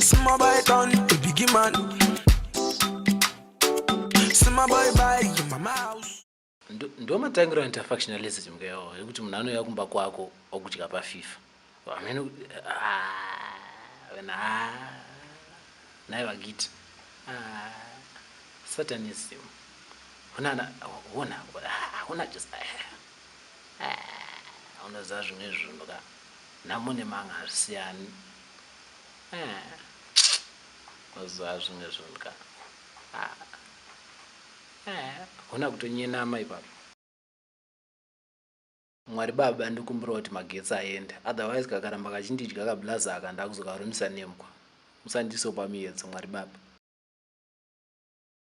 Small boy town, the biggie man. Small boy by your mama house. Ndo matangiro anti factionalism ke yo yekuti munhu anouya kumba kwako okudya pa FIFA. Amene ah wena ah naye vagiti ah satanism. Hona na hona hona just ah hona zazvo nezvinhu ka. Nhamo nemanga hazvisiyani. Eh. Mazuva zvimwe zvinhu ka. Ah. Eh, hona kutonyenama ipapo. Mwari baba ndikumbirawo kuti magetsi aende otherwise kakaramba kachindidya kablaza aka ndakuzokarumisa nemkwa. Musandiisewo pamiyedzo Mwari baba.